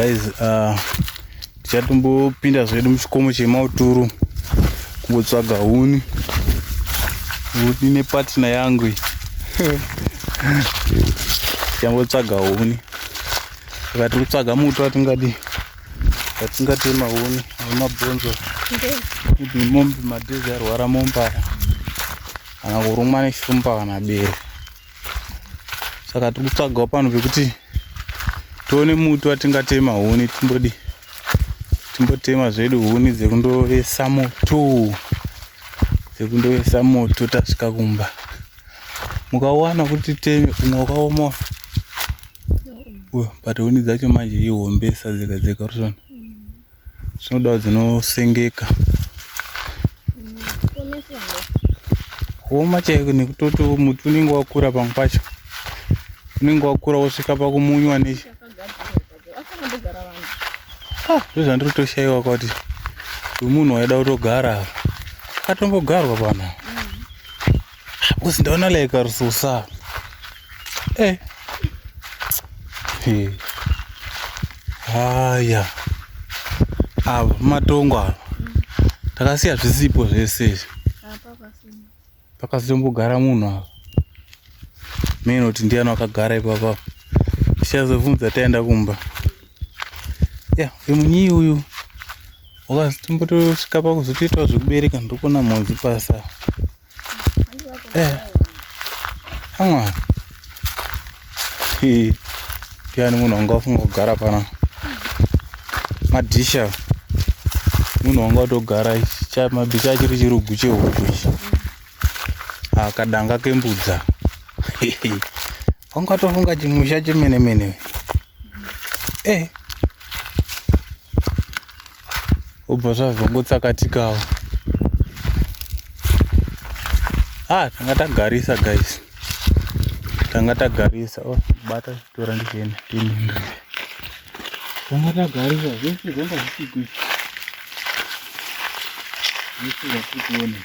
guys uh, tichatombopinda zvedu muchikomo chemauturu kungotsvaga huni huni nepatina yangu iyi tichambotsvaga huni saka tiri kutsvaga muto atingadi atingatema huni nemabhonzo kuti mombe madhezi arwara mombara kana kurumwa neshumba kana bere saka tiri kutsvagawo pano pekuti tione muti watingatema huni timbodi timbotema zvedu huni dzekundovesa moto dzekundovesa moto tasvika kumba mukawana kuti teme umwe wakaoma but huni dzacho manje ihombesa dzega dzega rusona Zvinodawo dzinosengeka. Kuoma chaiko nekutoti muti unenge wakura pamwe pacho. Unenge wakura wosvika pakumunywa ne Ah, ndozvandiri kutoshaiwa kuti uyu munhu waida kutogara apa. Akatombogarwa pano. Because ndaona like ari so sad. Eh. Hey. Haya. Ava matongo ava. Takasiya zvisipo zvese izvi. Pakasimbogara munhu ava. Mimi noti ndiani wakagara ipapa. Tichazobvunza taenda kumba. Yeah, vemunyi uyu. Wakazotombotosvika pakuzotoitawo zvekubereka ndokona mhodzi pasa. Eh. Hanga. Hi. Piani munhu wanga ufunga kugara pana. Madisha. Munhu wanga utogara cha mabika achiri chirugu chehuku ichi. Akadanga kembudza. Wanga tofunga chimusha chemene mene. Eh. obva zvazongotsakatikawo ah tanga tagarisa guys tanga tagarisa oh bata tora ndichienda tininga tanga tagarisa zvese zvanga zvichigwi zvese zvatikuona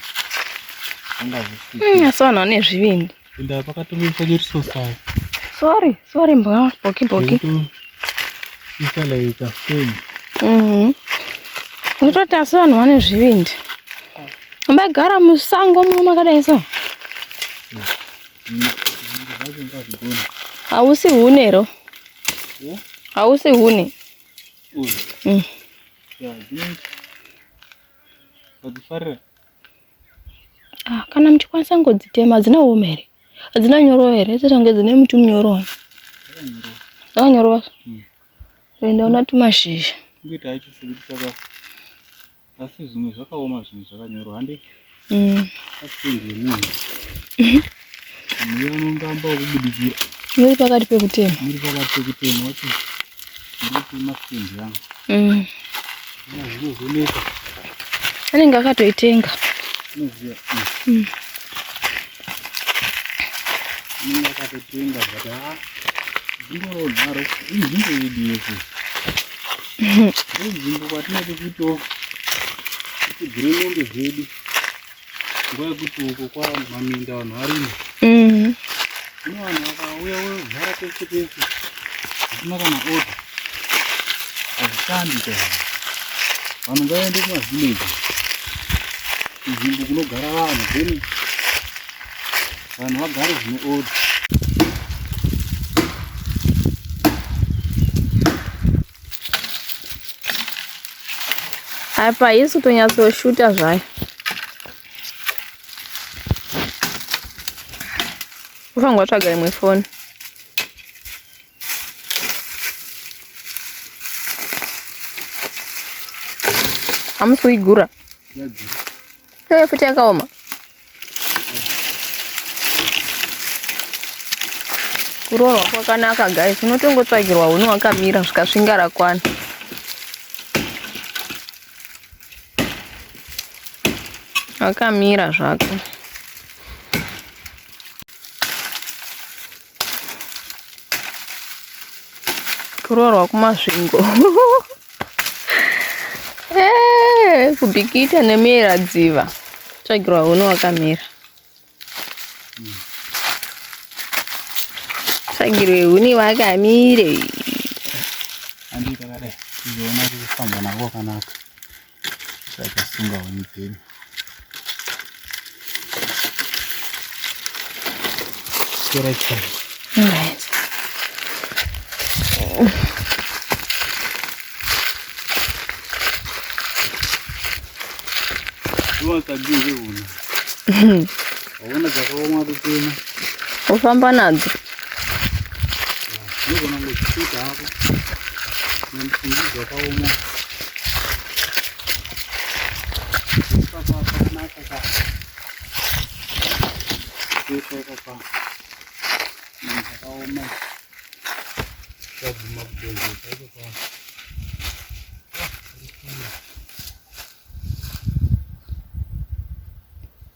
zvanga zvichigwi hmm, asi vanhu vane zvivindi Inda pakatomiswa nyeriso sayo. Sorry, sorry mbwa, boki boki. Isa like a film. Mhm. Ndototi asi vanhu vane zvivindi. Mbagara musango muno makadai so. Hausi hune ro. Hausi hune. Mm. Yeah, I think. But the Ah, kana muchikwanisa ngodzitema hadzina uoma here hadzina nyoro here dzichange dzine muti munyoro akanyoro vaso hmm. enda una tumashizha asi zvimwe zvakaoma zvinhu zvakanyorwa handi hmm. Muriwo unongamba wekubudikira. Muri pakati pekutema. Muri pakati pekutema wacho. Muri kutema sitendi yangu. Mm. Zvinozoneka. Anenge akatoitenga. Unoziva. Mm. Anenge akatoitenga but ha. Zvinodaro. Inzvimbo yedu yese. Inzvimbo kwatinoti kuto. Kuti gure mombe dzedu. nguva yekuti uko kwamaminda vanhu varimo mm. zvino vanhu vakauya vogara pese pese zvisina kana oda hazvishandi ka vanhu ngavaende kumavillaji kunzvimbo kunogara vanhu then vanhu vagare zvine oda apa haisi kutonyatsoshuta zvayo ufanirwa tsvaga imwe foni hamusi kuigura yeah, Hey, futi yakaoma. Kurohwa kwakanaka guys, unotongotsvagirwa huni wakamira zvikasvinga rakwana. Wakamira zvako. kuroorwa kumasvingo eh, kubikita nemera dziva tsvagirwa huni wakamera tsvagirwe huni wakamire andikakadai izoona kufamba nako wakanaka zvakasunga huni dzedu chikera chai What a beautiful. Waona dzakaoma kutema. Ufamba nadzo. Unogona kuchita hapo. Nemfungo dzakaoma.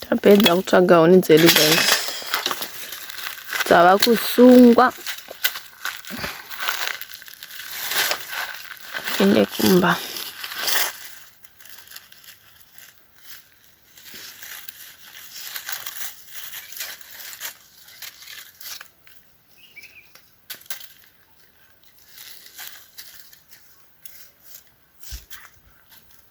Tapedza kutsvaga huni dzedu guys. Dzava kusungwa. Ine kumba.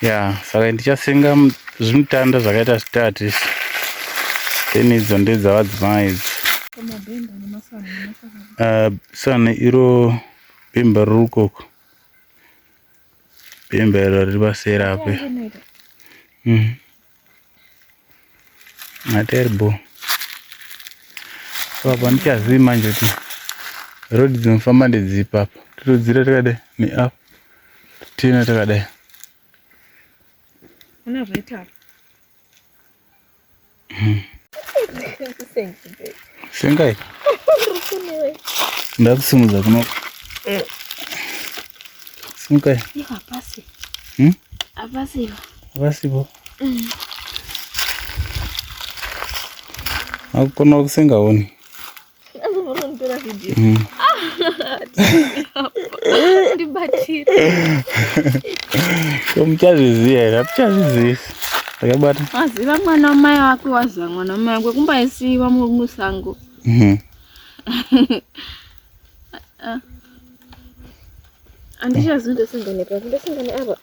ya saka ndichasenga zvimutanda zvakaita zvitatu izvi then idzo ndedzavadzimai idzo ah, sana iro bhemba riri ukoko bhemba iro riri paseri ape materbo so apa ndichazivi manje kuti road dzinofamba ndedzipa apa totodzira takadai neap tiina takadai hmm. sengai ndakusimudza kuno eh. simukai hmm? apasiva vasipo akukonawo kusengaoni mm. ko muchazviziva here hatichazvizivi takabata waziva mwana wamai wake waziva mwana wamai wake kumbaisiiwa musango mm-hmm. ah. andichazi ndosangane papi ndosangane apa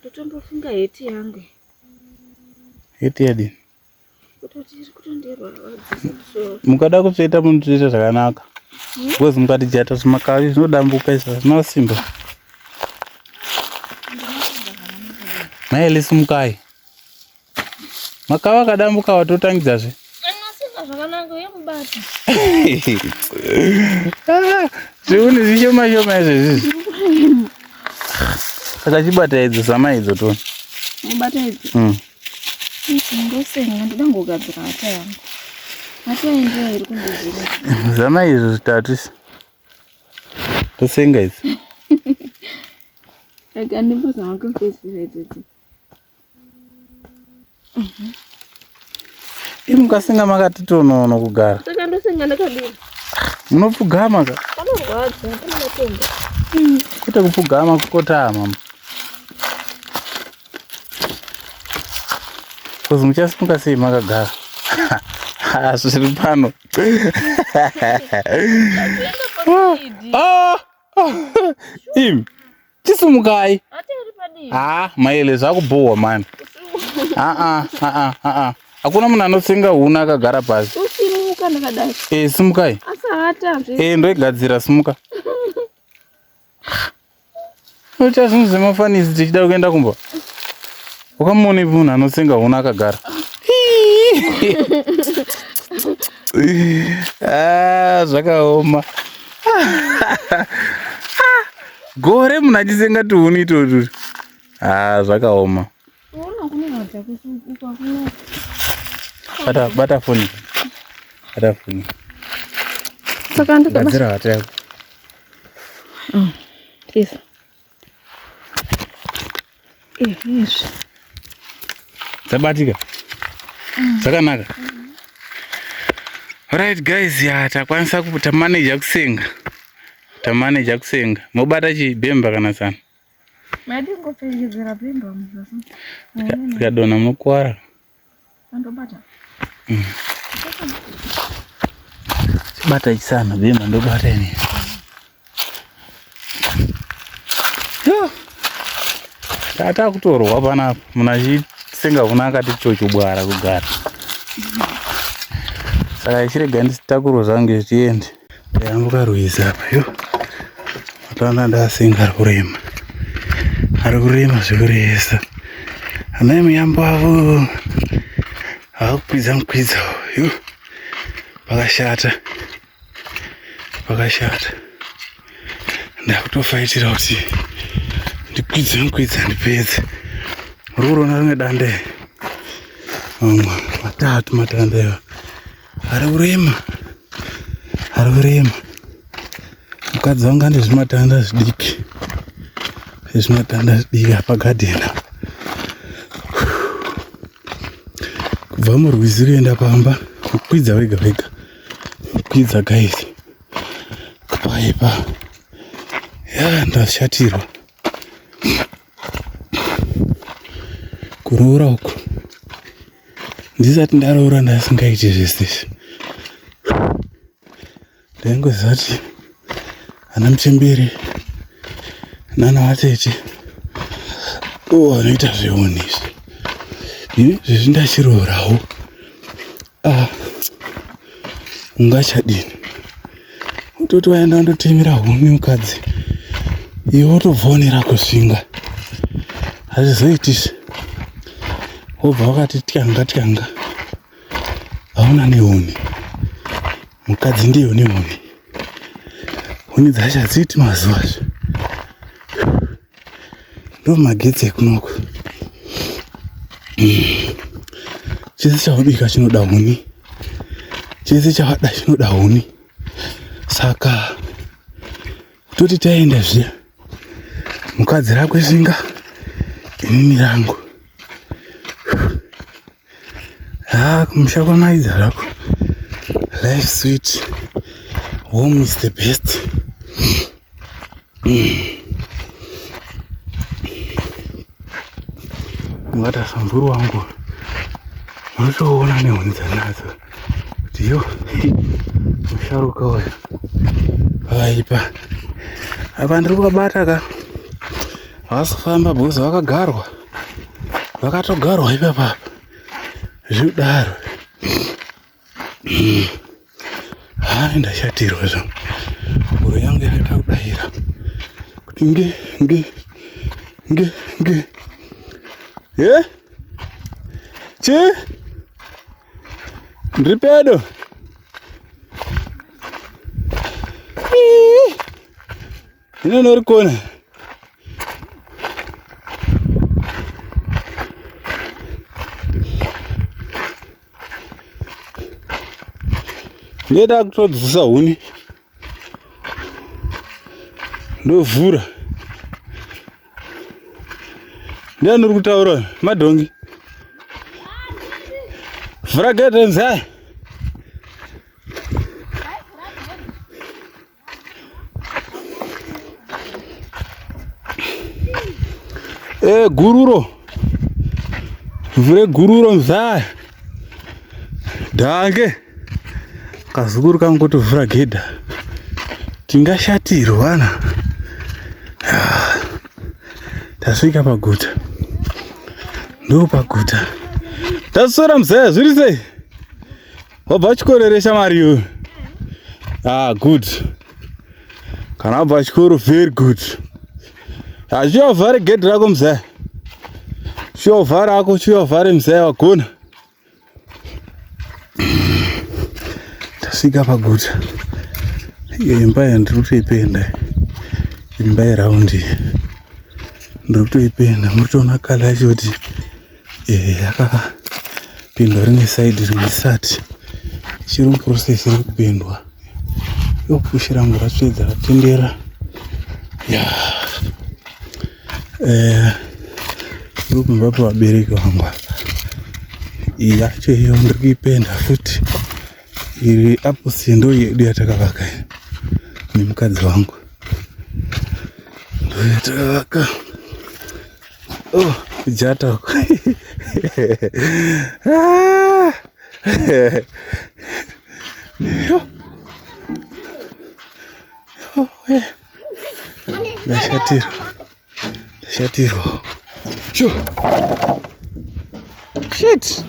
Ndotombofunga heti yangu. Heti yadi. Kutoti iri kutondirwadzisa musoro. Mukada kutsveta munotoita zvakanaka. Hmm? Because mukati jata zvimakavi zvinodambuka izvo hazvina simba. Mai Elisi mukai. Makava akadambuka watotangidza zve. Zviuni zvishoma shoma izvo izvizvi. Saka chibata idzo zama idzo to. Mubata idzo. Mm. Ndosenga ndoda ngogadzira hata yangu. Hata yangu iri kundizira. Zama izvo zvitatu. Ndosenga idzo. Like, and it was not confused with it. Imi mukasenga makati tonono kugara. Saka ndosenga ndakadini? Munopfugama ka? Panorwadza, pane matombo. Hmm, kwete kupfugama kukotama. Kozi muchasimuka sei makagara? Ah, zviri pano. Ah, ah, Im. Chisumukai. Ah, maele zvakubhohwa mani. Ah ah ah ah ah. Hakuna munhu anotsenga huna akagara pasi. Usimuka ndakadai. Eh, simukai. Asahata zve. Eh, ndoigadzira simuka. Ucha zvinhu zvemafanisi tichida kuenda kumba. Ukamuona ipi munhu anotsenga huna akagara. Ah, zvakaoma. Gore munhu achitsenga tuhuni itotu. Ah, zvakaoma. Bata bata foni. Bata foni. Saka ndikabata. Gadzira hata yako. Mm. Please. dzabatika dzakanaka right guys ya takwanisa tamaneja kusenga tamaneja kusenga mobata chibhemba kana sana zikadona munokwara Andobata. Mm. Bata isana bema ndobata ini. Yo. Tata kutorwa pana muna chisenga kuna akati chocho bwara kugara. Saka ichirega nditakuro zangu zviende. Ndayambuka rwizi apa yo. Ataona ndasinga ari kurema. Ari kurema zvekuresa. Ana emuyambo avo akukwidza mukwidza yo. Pakashata. Pakashata. Ndakutofaitira kuti ndikwidze mukwidza ndipedze. Ruri kuona rimwe dande. Matatu matande. Ari kurema. Ari kurema. Mukadzi wangu ane zvimatanda zvidiki. Zvimatanda zvidiki apa garden apa. Kubva murwizi kuenda pamba kukwidza wega wega. Kukwidza guys. Paipa. Ya ndashatirwa. kuroora uku ndisati ndaroora ndasingaiti zvese izvi ndaingoziva kuti ana muchembere nana vatete o vanoita zveoni izvi ini zvezvi ndachirooravo ah. ungachadini utoti waenda ndotemera huni mukadzi iwe wotobvonera kusvinga hazvizoitisi wobva wakati tyanga tyanga hauna nehuni mukadzi ndiyo nehuni huni dzacho hadziti mazuva zve ndo magetsi ekunoko hmm. chese chawabika chinoda huni chese chawada chinoda huni saka toti taenda zviya mukadzi rakwe shinga inini rangu Ah, kumusha kwamaidza zvako. Life sweet. Home is the best. Ngata samburu wangu. Unotoona nehuni dzanadzo. Kuti yo. Musharuka uyu. Aipa. Apa ndiri kubabata ka. Havasi kufamba because vakagarwa. Vakatogarwa ipapa. Zvidaro. Haa ndashatirwa zvangu. Mhoro yangu yakaita kudayira. Kuti nge nge nge nge. Eh? Chi? Ndiri pedo. Hino norikona. Ndeda kutodzisa huni. Ndovhura. Ndiani uri kutaura madhongi? Vhura gate nzai. Eh, gururo vure gururo mzaya dange kazukuru kangu kuti vhura gedha tingashatirwa na ah, tasvika paguta ndo paguta taswera mzaya zviri sei Wabva chikoro here shamari iwe? Ah, good. Kana wabva chikoro very good. Hazviya uvhare gedhi rako mzaya. Chiya uvhare ako, chiya uvhare mzaya wagona. Tasvika paguta. Iyo imba yandiri kutoipenda. Imba yeraundi. Ndiri kutoipenda. Muri kutoona kala yacho kuti eh, yakapindwa rimwe saidi rimwe sati ichiri muprocess iri kupindwa yokushi rangu ratsvedza ratendera ya eh, iri kumba pevabereki vangu yacho iyo ndiri kuipenda futi iri apo sindo yedu yatakavaka nemukadzi wangu ndoyatakavaka Oh, jata. ah. Ndashatirwa. Ndashatirwa. Sho. Shit.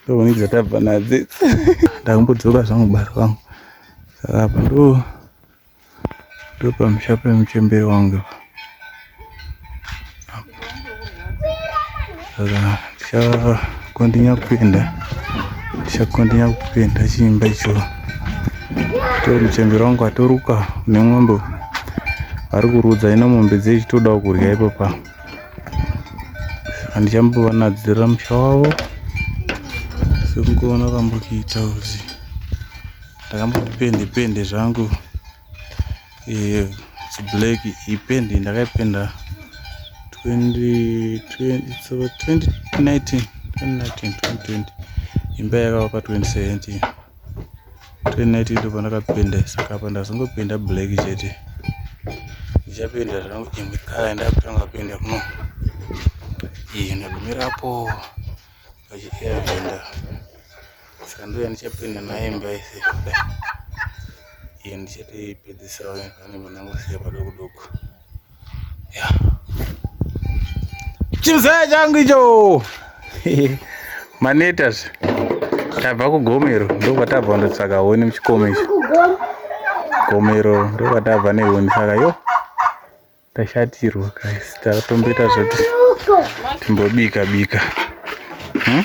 Ndovonidza tabva nadzi. Ndakumbodzoka zvangu bari vangu. Saka apa ndo ndopamusha pemuchembere wangu saka ndichakondinya kupenda ndichakondinya kupenda chiimba icho to muchembere wangu atoruka une n'ombe ari kurudza ino mombe dzei chitodawo kurya ipapa saka ndichambovanadzirira musha wavo sekungoona kambokiita uzi ndakambopende pende zvangu eh, black ipendi ndakaipenda 2019 2020 imba yakavakwa 2017 2019 ndo pandakapenda saka apa ndazongopenda black chete ndichapenda zvangu imwe kala ndakutanga kupenda kuno iyi ndagumirapo pachiaenda Saka ndouya ndichapinda naye imba yese kudai. Iye ndichatoipedzisirawo vane vanangosiya padoko doko. Yeah. Chimzaya changu icho. Manetas. Tabva kugomero ndokwatabva ndotsvaka honi muchikomo ichi. Gomero ndokwatabva nehoni saka yo tashatirwa guys tatomboita zvoti timbobika bika. Hmm?